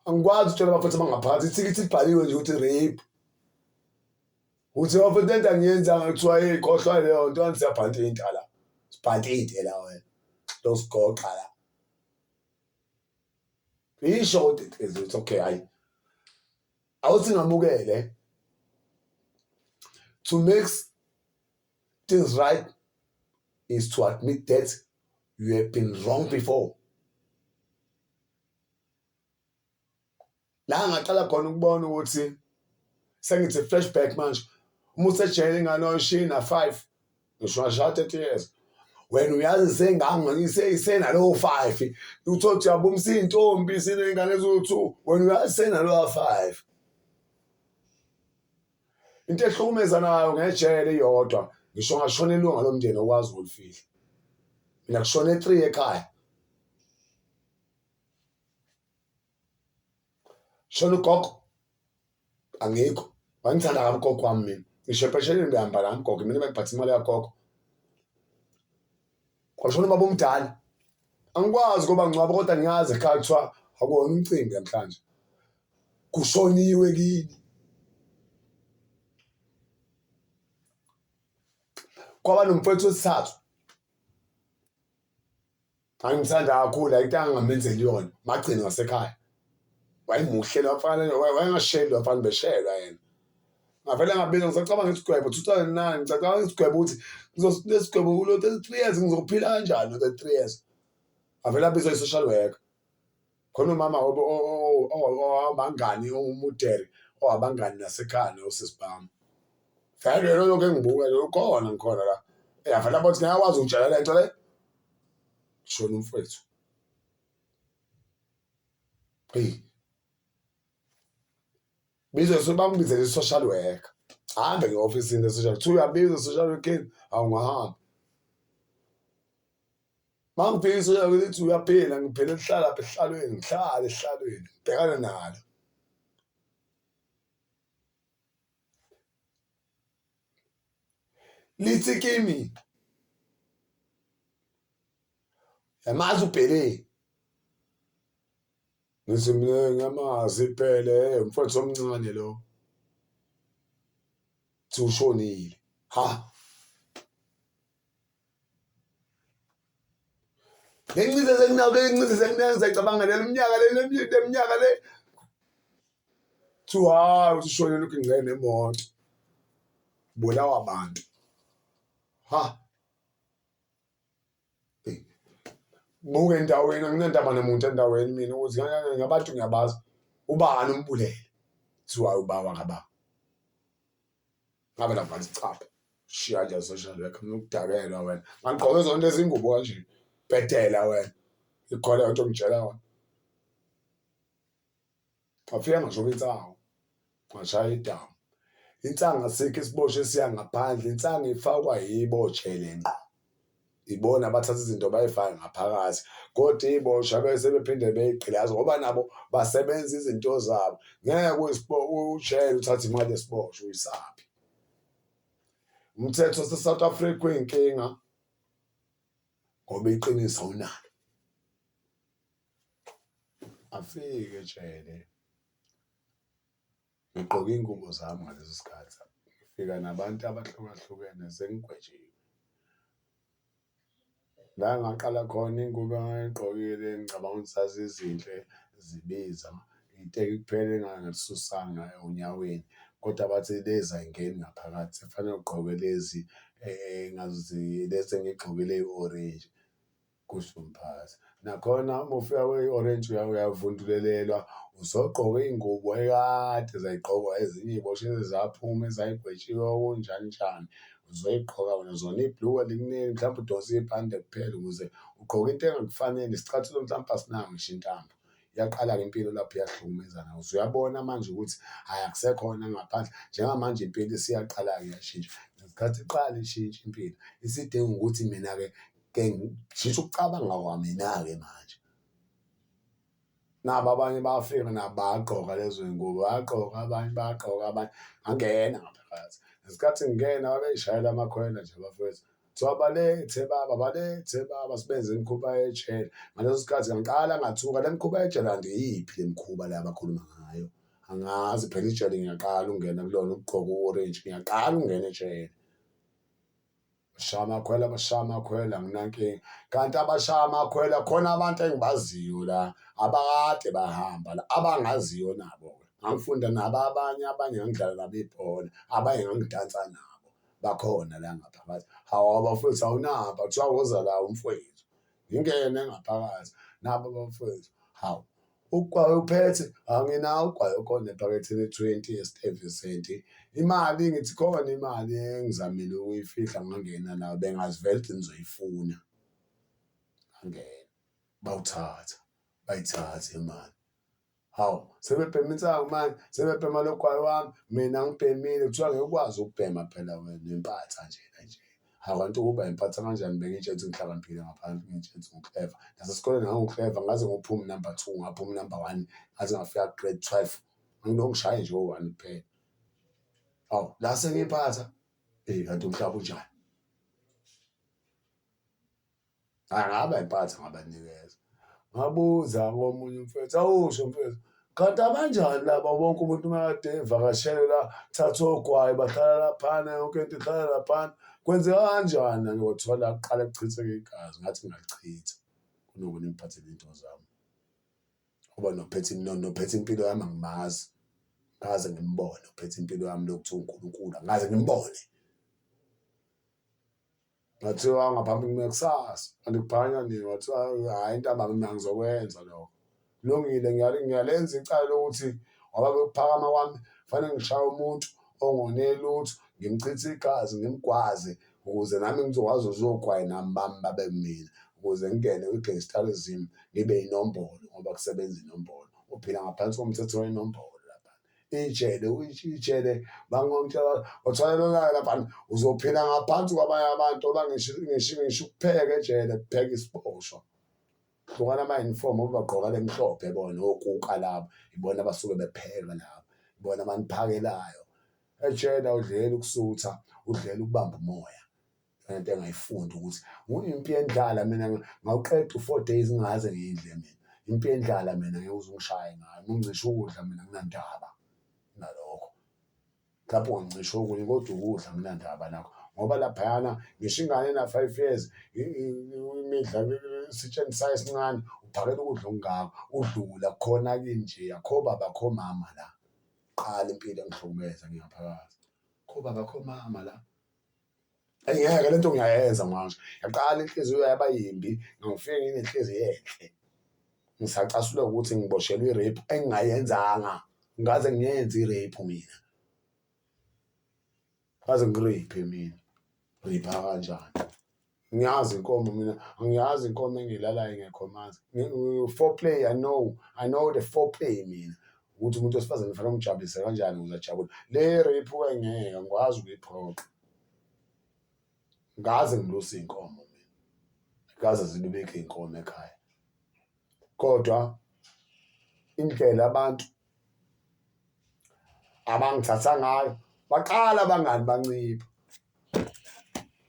Speaker 1: angikwazi ukutshela abafethu abangaphansi ithikithi libhaliwe nje ukuthi rape ukuthi abafethu lento angiyenzanga kuthiwa hey kohlwa leyo nto kanti siyabhanta into la sibhanta into la wena losigoqa la isho ukuthi it's okay hayi awuthi ngamukele to make Things right is to admit that you have been wrong before. La ngaqala khona ukubona ukuthi sengithi flashback manje uma usejele ingane oyishina five ngisho ngashawa thirty years wena uyazi sengango isenalowo five uthole ukuthi uyabumisa iy'ntombi siney'ngane eziwu-two wena uyazi senalowa five into ehlukumeza nayo ngejele iyodwa ngisho ngashona ilunga lomndeni okwazi ukulifihla mina kushona e3 ekhaya shona ugogo angikho wangithanda kabi ugogo wami mina ngisho empesheleni ngihamba la mgogo mina bengiphatha imali yagogo Kwashona ubaba omdala. Angikwazi ngoba ngcwaba kodwa ngiyazi ekhaya kuthiwa akuwona umcimbi namhlanje. Kushoniwe kini. Kwaba nomfowethu wesithathu. Angimthanda kakhulu ayitanga ngamenzeli yona. Magcini wasekhaya. wayemuhle lo mfana wayengashelwa mfana beshelwa yena ngavele ngabeka ngisacabanga isigwebo 2009 ngisacabanga isigwebo ukuthi ngizonesigwebo kulo 33 years ngizophila kanjani 33 years avele abizwa i-social worker khona umama owabangani umudere owabangani nasekhanda usisibhamu vele yena lokho engibuka lo khona ngikhona la eyavele abathi ngiyakwazi ukutshela le nto le shona umfowethu eyi bizosuke bambizele i-social worker hambe nge-ofisini le-social kuthiwa uyabiza i-social worker awungahambi mangibheke i-social worker lithi uyaphila ngiphele lihlala pha ehlalweni ngihlale ehlalweni ngibhekane nalo lithi kimi yamazi ubhele ngithi mina ngiyamazi ibhele mfowethu omncane lo thi ushonile ha le ncize senginayo le ncize senginayo ngizayicabanga le minyaka le le minyaka le kuthiwa hayi uthi ushone lokhu ingcene nemoto bulawa abantu ha buke endaweni anginandaba namuntu endaweni mina ukuthi ngabantu ngiyabazi ubani umbulele kuthiwa ubaba kababa ngabe la manje chapha shiya nje social worker ngikudakelwa wena ngigqoke zonke izingubo kanje bhedela wena ikhona into ngitshela wena ngafika ngisho kwinsango ngashaya idamu insanga sikho isiboshwe siya ngaphandle insanga ifakwa yibo jele ngqo ibona abathatha izinto bayifake ngaphakathi kodwa iy'boshwa bese bephinde beyigqilaze ngoba nabo basebenza izinto zabo ngeke ushayele uthathe imali yesiboshwa uyisaphi umthetho sesouth africa uyinkinga ngoba iqiniso awunalo afike jele Ngigqoke iy'ngubo zami ngaleso sikhathi, ngifika nabantu abahlukahlukene sengigwetshiwe. La engaqala khona iy'ngubo engangiy'gqokile ngicabanga ukuthi zazizinhle, zibiza. Iteki kuphela engangilisusanga onyaweni kodwa bathi lezi ay'ngeni ngaphakathi, sekufanele ugqoke lezi lezi engiy'gqokile eyi-orenji. kusho umphathi. Nakhona uma ufika kwe-orange uyavundulelelwa uzogqoka iy'ngubo ekade zayigqokwa ezinye iy'boshwe ezaphuma ezayigwetshiwe okunjani njani uzoyigqoka wena zona ibhluke liningi mhlawumbe udonse ibhande kuphela ukuze ugqoke into engakufanele isicathulo mhlawumbe asinayo ngisho intambo iyaqala-ke impilo lapho iyahlukumezana uze uyabona manje ukuthi hhayi akusekhona ngaphandle njengamanje impilo isiyaqala-ke yashintsha ngesikhathi iqala ishintsha impilo isidinga ukuthi mina-ke ke ngijisa ukucabanga kwamina-ke manje nabo abanye bafika nabo bagqoka lezo zingubo bagqoka abanye bagqoka abanye angena ngaphakathi ngesikhathi ngingena babeyishayela amakhwela nje bafethu kuthiwa balethe baba balethe baba sibenze imikhuba yejele ngaleso sikhathi ngiqala ngathuka le mikhuba yejele andiyiphi le mikhuba le abakhuluma ngayo angazi phela ijele ngiyaqala ukungena kulona ukugqoka u-orange ngiyaqala ukungena ejele bashaya amakhwela bashaya amakhwela nginankinga kanti abashaya amakhwela khona abantu engibaziyo la abakade bahamba la abangaziyo nabo-ke ngangifunda nabo abanye abanye ngangidlala nabo ibhola abanye ngangidansa nabo bakhona la ngaphakathi hawu abafowethu awunamba kuthiwa woza la umfowethu ngingene ngaphakathi nabo abafowethu hawu Ugwayi uphethe anginawo ugwayi okhona ephaketheni twenty esitevesenti imali ngithi khona imali engizamile ukuyifihla ngangena nayo bengazivele ukuthi ngizoyifuna angena bawuthatha bayithathe imali hawu sebebhema insangu manje sebebhema logwayi wami mina ngibhemile kuthiwa ngeke ukwazi ukubhema phela wena impatha njena nje I want to Uber ngiphatha kanjani bengitshe ukuthi ngihlakaniphile ngaphansi ngitshe ukuthi ngikleva nasesikoleni ngangikleva ngaze ngophuma number two ngaphuma number one ngaze ngafika grade twelve nginongishaye nje owu-one kuphela awu la sengiphatha eyi kanti umhlaba unjani Angaba impatha ngabanikeza. Ngabuza komunye umfethu, awusho mfethu. Kanti abanjani laba bonke umuntu makade evakashele la thatha ogwayi bahlala laphana yonke into ihlala laphana kwenzeka kanjani angiyothola kuqala kuchitheke igazi ngathi ngingalichitha kunoku ningiphathele into zami ngoba nophethe nophethe impilo yami angimazi ngaze ngimbone uphethe impilo yami lokuthiwa unkulunkulu angaze ngimbone Ngathiwa ngaphambi kume kusasa kanti kuphakanywa nini wathiwa hhayi ntambama mina ngizokwenza lokho kulungile ngiyalenza icala lokuthi ngoba bekuphakama kwami fanele ngishaye umuntu ongone lutho ngimchithe igazi ngimgwaze ukuze nami ngizokwazi uzogwayi nami bami babe mina ukuze ngingene kwi-gangsterism ngibe inombolo ngoba kusebenza inombolo uphila ngaphansi komthetho wenombolo lapha-ke ijele ijele bangonke otholakala lapha uzophila ngaphansi kwabanye abantu oba ngisho ngisho ngisho ukupheka ejele kupheka isiboshwa hlukana ama-uniform obagqoka lemhlophe bona okuka labo ibona abasuke bepheka labo ibona abaniphakelayo ejele awudleli ukusutha udlela ukubamba umoya into engayifunda ukuthi ngiyimpi yendlala mina ngawuqeda u-four days ngingaze ngiyidle mina impi yendlala mina ngeke uze ungishaye ngayo ungicisha ukudla mina nginandaba nalokho mhlawumbe ungancisha okunye kodwa ukudla nginandaba nakho ngoba laphayana ngisho ingane ena-five years imidla isitsheni sayo esincane uphakela ukudla okungako udlula khona kinje akho baba kho mama la qala impilo engihlukumeza ngingaphakathi kho baba kho mama la Ayi ngeke le nto ngiyayenza manje yaqala inhliziyo yaba yimbi ngangifike nginenhliziyo enhle ngisacasulwa ukuthi ngiboshelwe i-rape engingayenzanga ngaze ngiyenze i-rape mina ngaze ngiriphe mina ripha kanjani ngiyazi inkomo mina angiyazi inkomo engilalayo ngekho manzi four play i know i know the four play mina ukuthi umuntu wesifazane kufanele umjabulise kanjani ukuze ajabule le rape wengeke ngikwazi ukuyiphoqa ngaze ngilusa iy'nkomo mina ngaze zilubeke iy'nkomo ekhaya kodwa indlela abantu abangithatha ngayo baqala abangani bancipha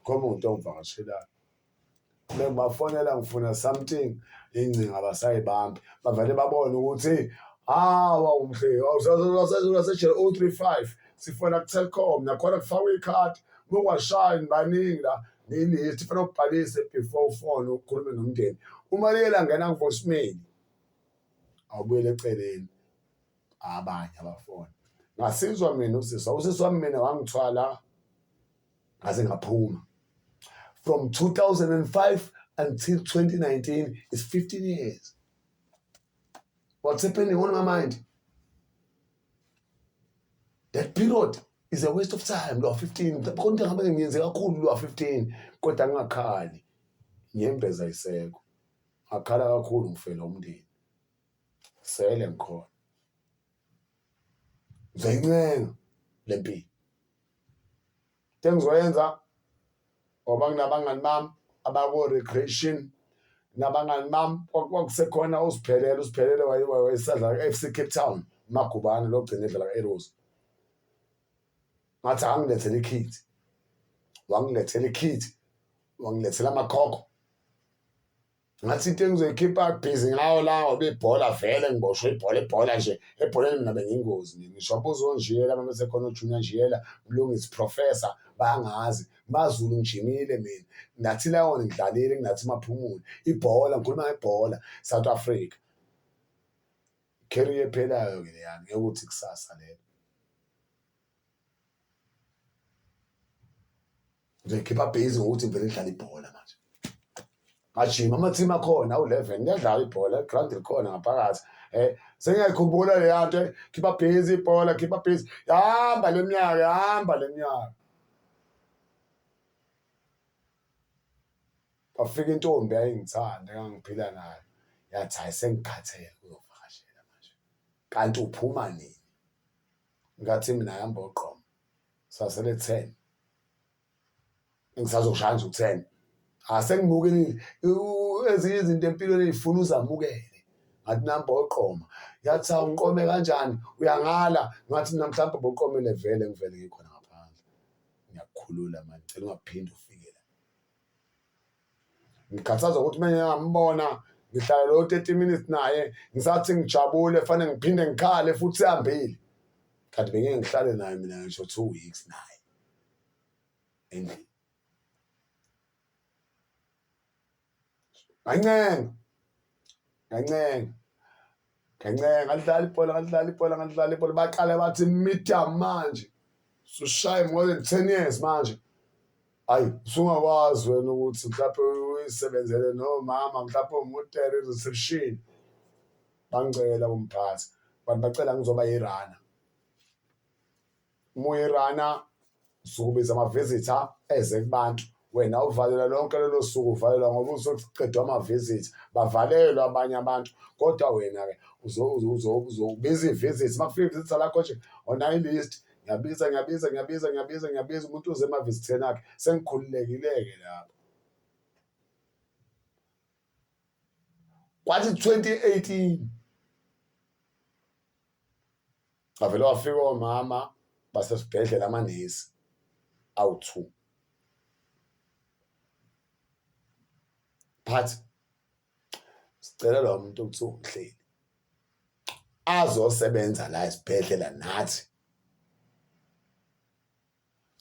Speaker 1: khoma umuntu ongivakashelayo bengibafonela ngifuna something ingcinga abasayibambi bavele babone ukuthi hawa ah, umhle awusasejele o-three five sifona ku-telcom nakhona kufakwe ikhadi mungwashayini baningi la nini ithi fanele ubhalise before ufone ukhulume nomndeni uma liyela ngena kuvoicemail awubuyele eceleni abanye abafona ngasizwa mina usisi usisi wami mina wangithwala ngaze ngaphuma from 2005 until 2019 is 15 years what's happening on my mind that period is a waste of time lo 15 khona into ngabe ngiyenze kakhulu lo 15 kodwa angakhali ngiyembeza iseko akhala kakhulu ngifela umndeni sele ngikhona ngizoyincenga lempilo Into engizoyenza ngoba nginabangani bami abako-recreation nabangani bami kwakusekhona usiphelele usiphelele wayesadla ku-f c cape town umagubane logcina edlala ku-eros ngathi angilethele ikhithi wangilethela ikhithi wangilethela amakhokho ngathi into engizoyikhipha busy ngawo la ngoba ibhola vele ngiboshwe ibhola ibhola nje ebholeni mina bengingozi nje ngisho abuzo onjiyela abantu sekhona ujunior njiyela mlungisi professor bangazi mazulu ngijimile mina ngathi lawona ngidlalile ngathi maphumule ibhola ngikhuluma ngebhola south africa career ephelayo ke leyami yokuthi kusasa lelo ngizoyikhipha base ngokuthi ngivele ngidlale ibhola manje ngajima amathimu akhona awu-eleven kuyadlala ibhola igrandi likhona ngaphakathi um sengiyayikhumbula leya nto eh, khipha base ibhola khipha base yahamba le mnyaka yahamba le mnyaka kwafika intombi yayingithanda engangiphila nayo yathi hayi sengikhathele kuzovakashela manje kanti uphuma nini ngathi mina hamba oqoma sasele 10 ngisazoshaya nje u10 asengibuke ezinye izinto empilweni ezifuna uzamukele ngathi namba oqoma yathi awunqome kanjani uyangala ngathi mina mhlawumbe boqomele vele ngivele ngikhona ngaphandle ngiyakukhulula manje ngicela ungaphinde ufike la ngikhathazwa ukuthi uma ngingambona ngihlala lo 30 minutes naye ngisathi ngijabule fanele ngiphinde ngikhale futhi sihambile kanti bengeke ngihlale naye mina ngisho two weeks naye endlini kancenga kancenga Ngancenga ngalidlala ibhola ngalidlala ibhola ngalidlala ibhola baqale bathi media manje sushaye more than ten years manje ayi usungakwazi wena ukuthi mhlawumpe uyisebenzele nomama mhlawumpe umutere i-reception bangicela kumphathi bantu bacela ngizoba yirana Moerana sukubiza ama-visitor eze kubantu wena uvalela lonke lolo suku uvalelwa ngoba uzoqedwa ama-visit bavalelwa abanye abantu kodwa wena-ke uzobiza i-visit uma kufika i-visit lakho nje onayo i-list ngiyabiza ngiyabiza ngiyabiza ngiyabiza ngiyabiza umuntu uze emavizitheni akhe sengikhululekile-ke lapho kwathi 2018 Bavele wafika omama basesibhedlela amanesi awu-two. But sicela lo muntu okuthiwa umhleli azosebenza la esibhedlela nathi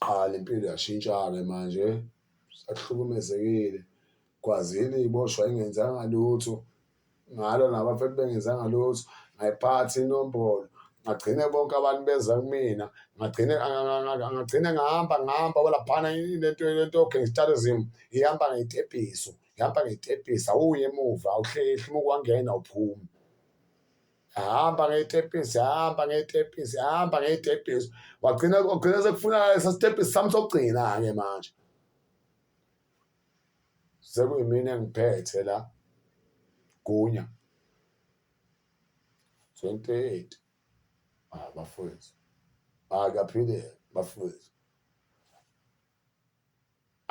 Speaker 1: Qha lempilo yashintsha-ke manje sekuhlukumezekile kwazini iboshwa ingenzanga lutho ngalo nabafethu bengenzanga lutho ngayiphatha inombolo ngagcine bonke abantu beza kumina ngagcine ngagcine ngahamba ngihamba walaphana lento lento gangsterism ihamba ngeyitepiso ihamba ngeyitepiso awuye emuva awuhlehli uma ukwangena awuphumi ahamba ngey'tebhisi ahamba ngey'tebhisi ahamba ngey'tebhisi wagcina wagcina sekufuna sasitebhisi sami sokugcina-ke manje sekuyimina engiphethe la gunya 28 ah bafowethu ah kuyaphileka bafowethu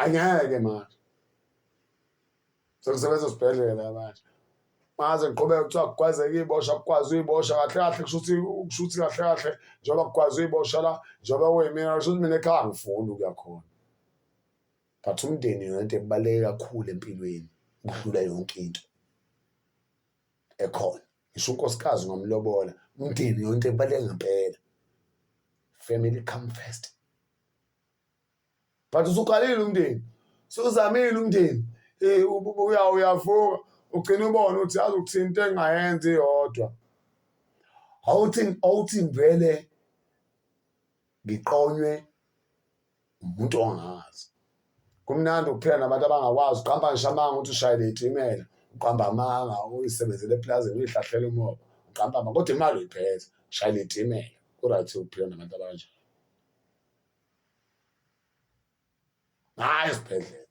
Speaker 1: angeke manje sekusebenza esibhedlela manje maze ngiqhubeka kuthiwa kugwazeka iy'bosha kugwaza uyibosha kahle kahle kusho ukuthi kusho ukuthi kahle kahle njengoba kugwaza uyibosha la njengoba kuyimina kusho ukuthi mina ekhaya angifuni ukuya khona but umndeni yona into ebaluleke kakhulu empilweni ukudlula yonke into ekhona ngisho unkosikazi ungamlobola umndeni yonke ebaluleke ngempela family come first but usuqalile umndeni suzamile umndeni uya uyavuka ugcina ubona ukuthi azi ukuthini into engayenzi yodwa awuthi awuthi ngivele ngiqonywe umuntu ongazi kumnandi ukuphila nabantu abangakwazi uqamba ngisho amanga ukuthi ushayele itimela uqamba amanga uyisebenzele eplazini uyihlahlela umoba uqamba amanga kodwa imali uyiphethe ushayele itimela ku-right ukuphila nabantu abanjalo hayi esibhedlela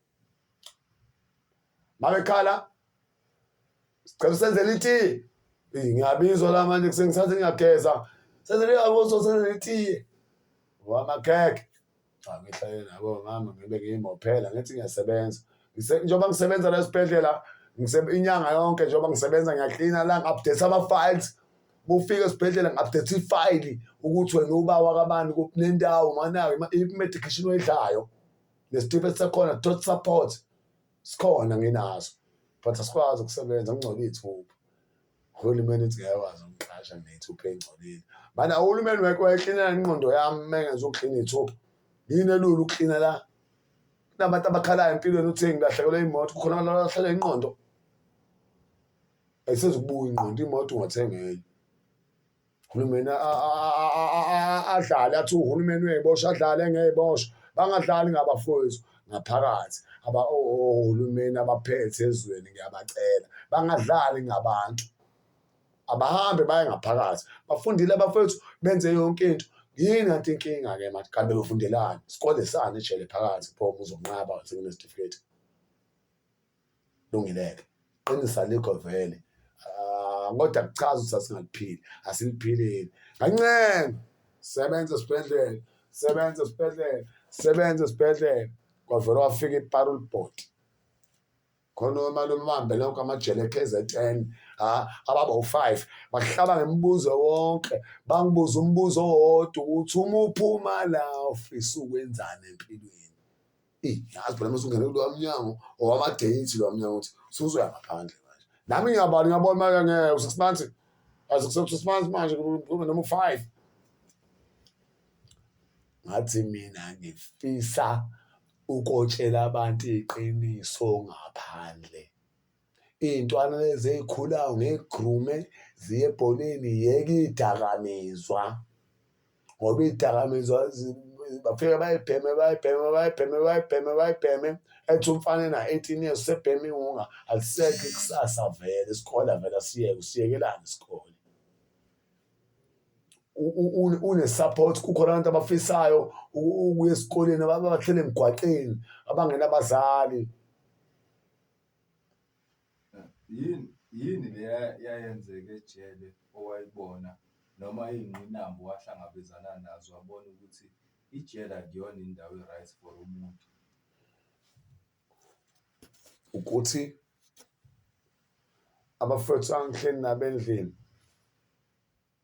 Speaker 1: mabekhala sicela usenzele itiye ngiyabizwa la manje kusengisathi ngiyageza senzele aboso senzele itiye wamakhekhe cha ngihlale nabo mama ngibe ngiyimophela ngithi ngiyasebenza njengoba ngisebenza la esibhedlela inyanga yonke njengoba ngisebenza ngiyaklina la ngi-update ama-files Bufika esibhedlela ngabudetha ifayili ukuthi wena uba wakabani kuphi nendawo manayo i-medication oyidlayo nesitifiketi sakhona tot support sikhona nginaso but asikwazi ukusebenza kungcolile ithuba uhulumeni uthi ngeke wazi ukuqasha ngethupha engcolile mana uhulumeni wekho wayeklinela inqondo yami mengenza ukuklina ithupha yini elula ukuklina la kunabantu abakhalayo empilweni uthe ngilahlekelwe imoto kukhona abantu abalahlekelwe inqondo ayisezukubuya ingqondo imoto ungathenga enye uhulumeni adlale athi uhulumeni uyayibosha adlale engeyibosha bangadlali ngabafowethu ngaphakathi ohulumeni abaphethe ezweni ngiyabacela bangadlali ngabantu abahambe baye ngaphakathi bafundile abafowethu benze yonke into yini anti inkinga-ke manje kanti bebefundelani sikole sani ejele phakathi pho uzonqaba sekunesitifiketi Lungileke qinisa likho vele ah, kodwa kuchaza ukuthi asingaliphili asiliphilile kancane sebenza esibhedlela sebenza esibhedlela sebenza esibhedlela kwavele wafika iparul board khona omalume bahambe lonke amajele e-kzn ha ababa u-five bahlaba ngemibuzo wonke bangibuza umbuzo owodwa ukuthi uma uphuma la ufisa ukwenzani empilweni eyi yazi phela mase ungene kulowa mnyango owamadeyithi lowa mnyango ukuthi suzoya ngaphandle manje nami ngiyabala ngiyabona manje ngeke u-six months aze kuse-six months manje kube noma u-five ngathi mina ngifisa ukotshela abantu iqiniso ngaphandle Iy'ntwana lezi ey'khulayo ngiy'grume ziye ebholeni yeke iy'dakamizwa ngoba iy'dakamizwa bafike bayibheme bayibheme bayibheme bayibheme bayibheme ethi umfana ena-eighteen years usebheme iwunga alisekho ikusasa vele isikole avele asiyeke usiyekelani isikole une-support kukhona abantu abafisayo ukuya esikoleni abahlele emgwaqeni abangenabazali
Speaker 2: Yini yini le eyayenzeka ejele owayibona noma iyingqinamba owahlangabezana nazo wabona ukuthi ijele akuyona indawo e-right for umuntu?
Speaker 1: Ukuthi abafowethu angihleli nabo endlini.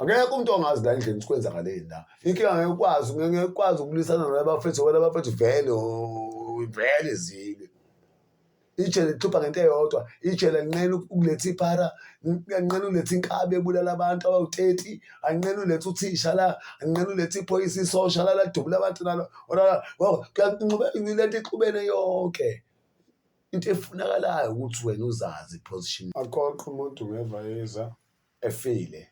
Speaker 1: Akekho umuntu ongazi la endlini sikwenzakaleni la. Inkinga ngeke ukwazi ngeke ukwazi ukulisana nabafethu wena abafethu vele oh, vele zile. Ijele lixupha ngento eyodwa, ijele linqena ukuletha iphara, linqena uletha inkabi ebulala abantu abawu-30, anqena uletha uthisha la, anqena uletha iphoyisa isosha la ladubula abantu nalo. Lento ixubene yonke. Into efunakalayo ukuthi wena uzazi position. Aqoqe umuntu ngevayeza. efile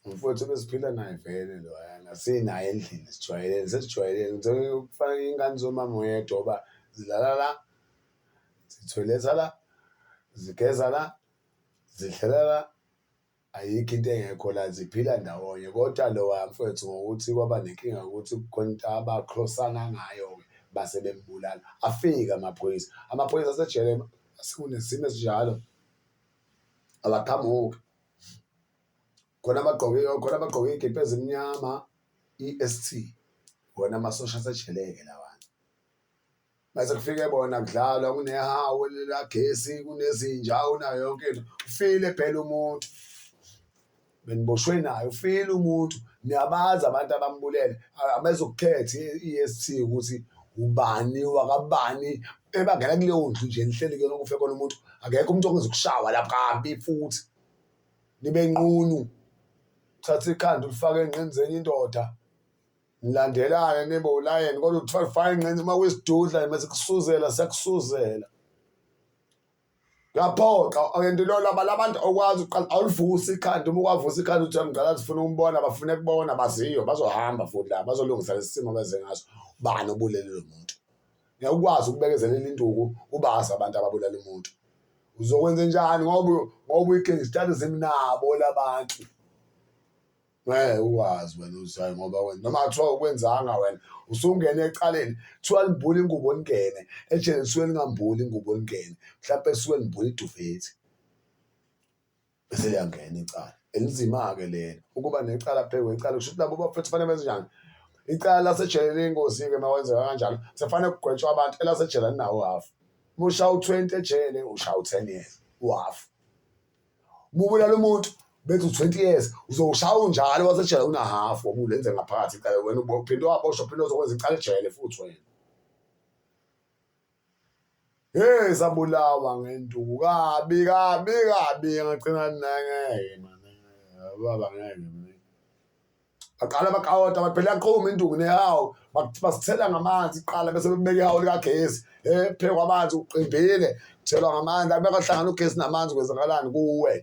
Speaker 1: umfowethu ebesiphila naye vele loyana sinaye endlini sijwayelene sesijwayelene ngithole ukufana ingane zomama oyedwa uba zilala la zithoyiletha la zigeza la zidlela la ayikho into engekho la ziphila ndawonye kodwa lowa mfowethu ngokuthi kwaba nenkinga ukuthi kukhona into abakhrosana ngayo-ke base bembulala afike amaphoyisa amaphoyisa asejele sekunesimo esinjalo abaqhamuki khona abagqoke khona abagqoke iy'kibha ezimnyama i-S_T wona amasosha asejele-ke lawana. Mase kufike bona kudlalwa kunehawu likagesi kunezinja unayo yonke into ufile phela umuntu. beniboshwe nayo file umuntu niyabazi abantu abambulele abezokukhetha i-est ukuthi ubani wakabani ebangela kuleyo ndlu nje nihleli kuyona kufe kona umuntu akekho umuntu okwenza ukushawa lapho kabi futhi nibe nqunu thatha ikhanda ulifake enqini zenye indoda nilandelane nibe ulayeni kodwa uthwala ufake enqini uma kuyisidudla mase kusuzela sekusuzela Ngaphoxa and lo laba labantu okwazi uqala awulivusi ikhanda uma ukwavusa ikhanda uthi mdala zifuna umbona bafune kubona baziyo bazohamba futhi la bazolungisa lesimo beze ngaso bani obulele lo muntu ngiyakwazi ukubekezelela induku ubazi abantu ababulala umuntu uzokwenza njani ngoba ngoba uyigangster zimnabo labantu Ngeke uwazi wena uzayo ngoba wena noma kuthiwa ukwenzanga wena usungene ecaleni kuthiwa limbula ingubo lingene ejele lisuke lingambuli ingubo lingene mhlawumpe lisuke limbula idufethi bese liyangena icala elinzima-ke lelo ukuba necala phezu kwecala kusho ukuthi labo bafethu fanele benze njani icala lasejele liyingozi-ke uma kwenzeka kanjalo sekufanele kugwetshwa abantu elasejele alinawo hafu uma ushawu-twenty ejele ushawu-ten years uhafu kubulala umuntu bethi u-20 years uzoshaya unjalo wasejele unahafu obulenze ngaphakathi icala wena uphinde waboshwa uphinde uzokwenza icala ejele futhi wena hey sabulawa ngenduku kabi kabi kabi ngagcina nangeke manje baba ngeke baqala bakawota bathi phela yaqhuma induku nehawu basithela ngamanzi kuqala bese bebeka ihawu likagesi um phekwa amanzi uqimbile thelwa ngamanzi abekahlangana ugesi namanzi kwenzakalani kuwe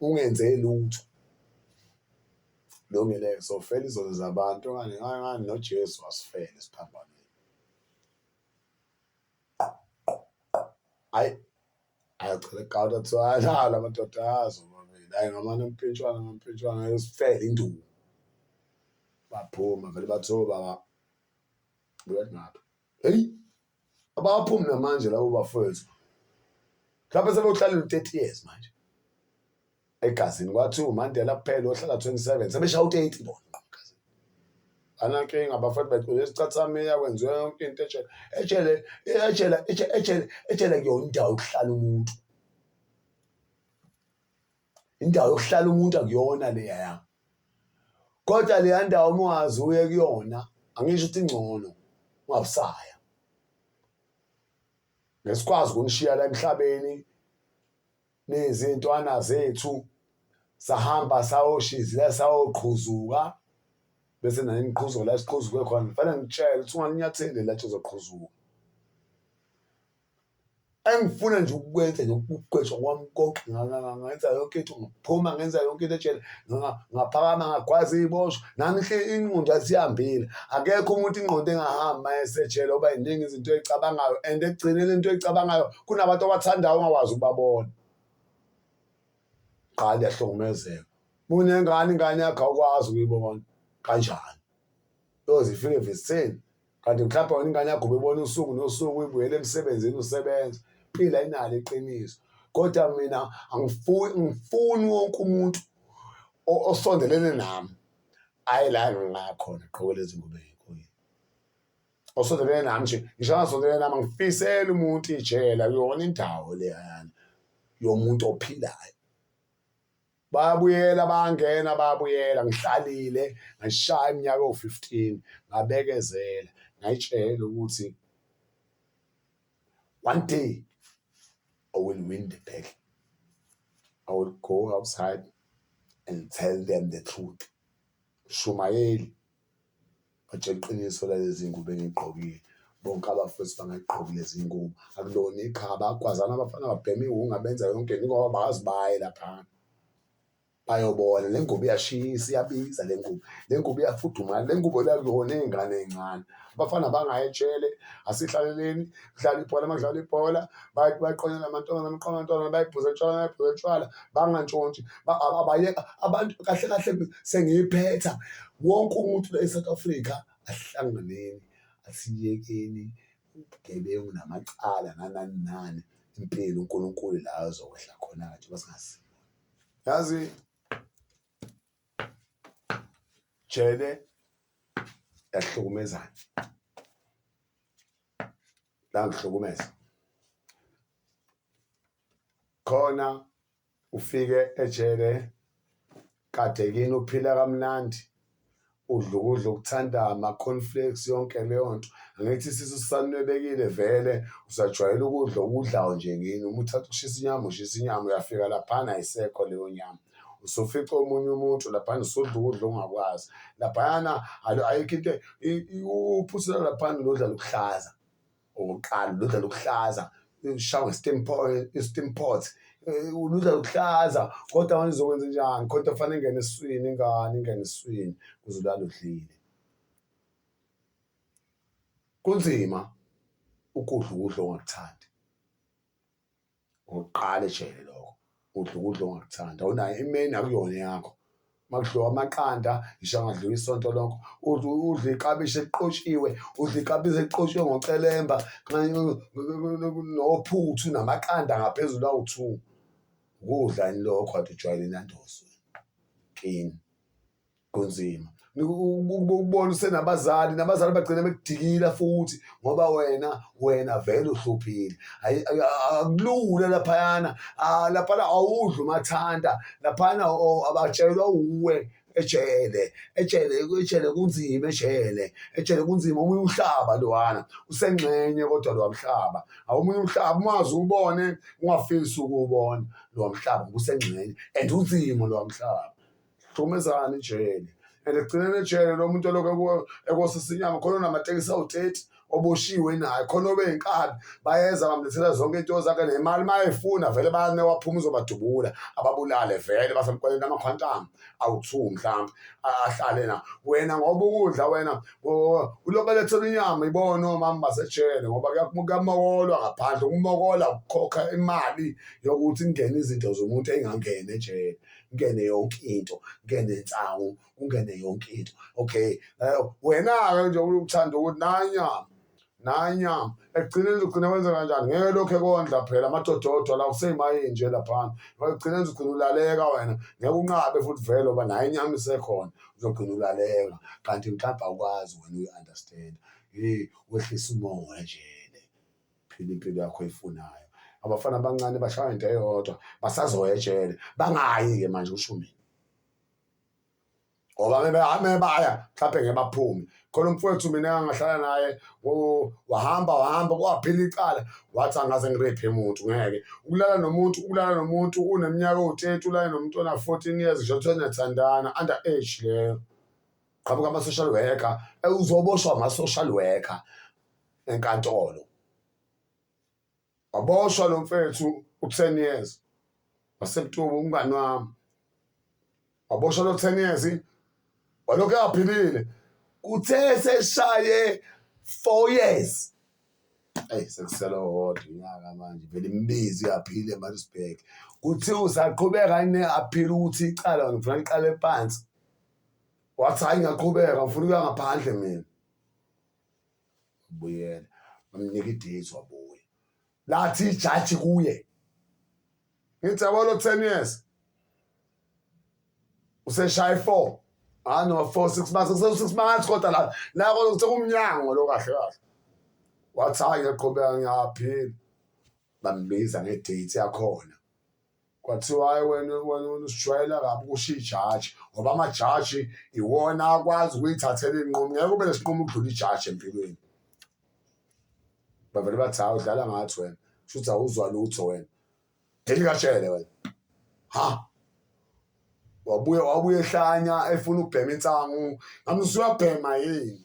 Speaker 1: ungenze lutho lungile sofela izono zabantu okanye ngani nojesu wasifele siphambaneni Hayi ayacela igawuda kuthiwa ayalala amadoda azo omabili hayi ngamane mpintshwana mampintshwana ayosifela induku baphuma vele bathiwa baba buya ngapha heyi abaphumi namanje labo bafowethu mhlawumbe sebewuhlalela u-thirty years manje egazini kwathiwa uMandela kuphela ohlala 27 sebeshaya u-30 bona anankinga bafana bagcwele isicathamia kwenziwe yonke into ejele ejele ejele ejele ejele kuyona indawo yokuhlala umuntu indawo yokuhlala umuntu akuyona leya ya kodwa leya ndawo uma ungazi uye kuyona angisho ukuthi ingcono ungabusaya ngesikwazi ukunishiya la emhlabeni nezintwana zethu sahamba sayoshizila sayoqhuzuka bese naye ngiqhuzuka la siqhuzuke khona ngifane ngitshele ukuthi ungalinyatheli la uzoqhuzuka engifuna nje ukukwenza nje ukugqwetshwa kwami konke ngenza yonke into ngiphuma ngenza yonke into etshela ngaphakama ngagwaza iy'boshwa nami ingqondo yasihambile akekho umuntu ingqondo engahambi uma esejele oba yiningi izinto ey'cabangayo and ekugcineni into eyicabangayo kunabantu abathandayo ongakwazi ukubabona qha liyahlukumezeka munengane ingane yakho awukwazi ukuyibona kanjani yoze ifike evisitheni kanti mhlawumbe wena ingane yakho ubebona usuku nosuku uyibuyele emsebenzini usebenza phila inalo iqiniso kodwa mina angifuni ngifuni wonke umuntu osondelene nami ayi la ngingakhona gqokele izingubo osondelene nami nje ngisho angasondelene nami ngifisela umuntu ijela kuyona indawo leyana yomuntu ophilayo babuyela bangena babuyela ngihlalile ngashaya iminyaka ewu-15 ngabekezela ngayitshela ukuthi one day i will win the battle i will go outside and tell them the truth shumayeli Batshela iqiniso lalezi ngubo engigqokile bonke abafethu bangayigqoki lezi ngubo akulona iqhawe abagwazana abafana babhema iwunga benza yonke into ngoba bazi baye laphana bayobona le ngubo iyashisa iyabiza le ngubo le ngubo iyafudumala le ngubo le akuyona eyengane eyincane abafana bangayitshele asihlaleleni. kudlala ibhola makudlala ibhola bayaqonyana amantombazana amaqoma amantombazana bayibhuza etshwala bayibhuza etshwala bangantshontshi abayeka abantu kahle kahle sengiyiphetha wonke umuntu la e-south africa ahlanganeni asiyekeni ubugebengu namacala nanani nani impilo unkulunkulu la azokwehla khona-ke njengoba singazi yazi jele yahlukumezana langihlukumeza khona ufike ejele kade kini uphila kamnandi udla ukudla okuthanda ama-conflicts yonke leyo nto angithi isisu sisanwebekile vele usajwayele ukudla okudlayo nje kini uma uthatha ukushisa inyama ushisa inyama uyafika laphana ayisekho leyo nyama usufica omunye umuntu laphana usudla ukudla ongakwazi laphayana ayikho into uphusela laphana lodlala ukuhlaza okokuqala lodlala ukuhlaza ushawe steam pot uludla luhlaza kodwa manje uzokwenza njani kodwa fanele ingene eswini ingane ingene eswini kuze ulala udlile kunzima ukudla ukudla ongakuthandi Ngokuqala ejele lokho. Udla ukudla ongakuthandi. Awunayo imeni akuyona yakho. Makudliwa amaqanda, ngisho angadliwa isonto lonke. Udla udla iklabishi eliqotshiwe, udla iklabishi eliqotshiwe ngocelemba, nophuthu namaqanda ngaphezulu awu-two. Ukudla yini lokho kade ujwayele nandoso. Kini. kunzima ukubona usenabazali nabazali bagcina bekudikila futhi ngoba wena wena vele uhluphile akulula laphayana laphana awudli umathanda laphana abatshelwa uwe ejele ejele ejele kunzima ejele ejele kunzima omunye umhlaba lowana usengxenye kodwa lowa mhlaba awumunye umhlaba umazi ubone ungafisi ukuwubona lowa mhlaba usengxenye and unzima lowa mhlaba hlukumezani ijele and ekugcineni ejele lo muntu olokhu ekosisa inyama khona onamatekisi awu-thirty oboshiwe naye khona obe yinkabi bayeza bamlethela zonke into zakhe nemali uma efuna vele bane waphuma uzobadubula ababulale vele basemqweleni amakhwantama awu-two mhlawumbe ahlale na wena ngoba ukudla wena ulokhu elethela inyama ibona omama basejele ngoba kuyamokolwa ngaphandle ukumokola ukukhokha imali yokuthi kungene izinto zomuntu ey'ngangeni ejele kungene yonke into kungene insangu kungene yonke into okay eh, wena-ke nje uthanda ukuthi nanyama nanyama ekugcineni uzogcina wenza kanjani ngeke lokhu ekondla phela amadododo la useyimayini nje laphana ekugcineni uzogcina ulaleka wena ngeke unqabe futhi vele oba naye inyama isekhona uzogcina ulaleka kanti mhlawumbe awukwazi wena uyi-understand wehlisa umoya nje phila impilo yakho oyifunayo abafana abancane bashaya into eyodwa basazoya ejele bangayi-ke manje usho mina ngoba mebaya mhlawumpe ngebaphume khona umfowethu mina engangahlala naye wahamba wahamba kwaphila icala wathi angaze ngirephe muntu ngeke ukulala nomuntu ukulala nomuntu uneminyaka ewu-thirty ulale nomuntu ona-fourteen years nje kuthiwa niyathandana under age leyo qhamuka ama-social worker uzoboshwa ama-social worker enkantolo waboshwa lo mfethu u-ten years wasebutuba umngani wami waboshwa lo ten years walokhu engaphilile kuthe seshaye four years eyi sekusele owodwa unyaka manje vele imibizi uyaphila emaritzburg kuthiwa usaqhubeka ne aphile ukuthi icala ngifuna liqale phansi wathi hhayi ngiyaqhubeka ngifuna ukuya ngaphandle mina ubuyela bamnika i-date wabuya lathi ijaji kuye ngithi yabo lo ten years useshaye four hayi no four six months kusewu-six months kodwa la la kodwa sekumnyango lo kahle kahle wathi hhayi ngiyaqhubeka ngiyaphila bambiza nge-date yakhona Kwathiwa hayi wena wena wena usijwayela kabi kusho ijaji ngoba amajaji iwona akwazi ukuyithathela iy'nqumo ngeke ube nesinqumo ukudlula ijaji empilweni bavele bathi hawu udlala ngathi wena kusho ukuthi awuzwa lutho wena delikatshele wena ha wabuye wabuye ehlanya efuna ukubhema insangu ngamuzwa uyabhema yini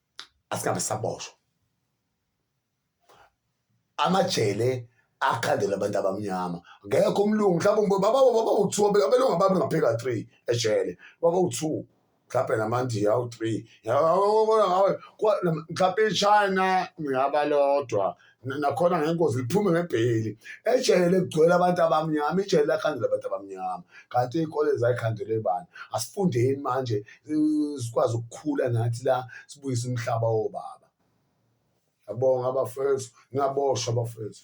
Speaker 1: asikabe saboshwa amajele akhandela abantu abamnyama ngekho umlungu mhlawumbe baba baba u-two abelungu ababe ngaphika three ejele baba u-two mhlawumbe namandiya awu-three mhlawumbe ichina ngingaba lodwa nakhona ngengozi liphume ngebheyili ejele ligcwele abantu abamnyama ijele lakhandela abantu abamnyama kanti iy'kole zayikhandelwe bani asifundeni manje sikwazi ukukhula nathi la sibuyise umhlaba wobaba yabonga abafethu ngingaboshwa abafethu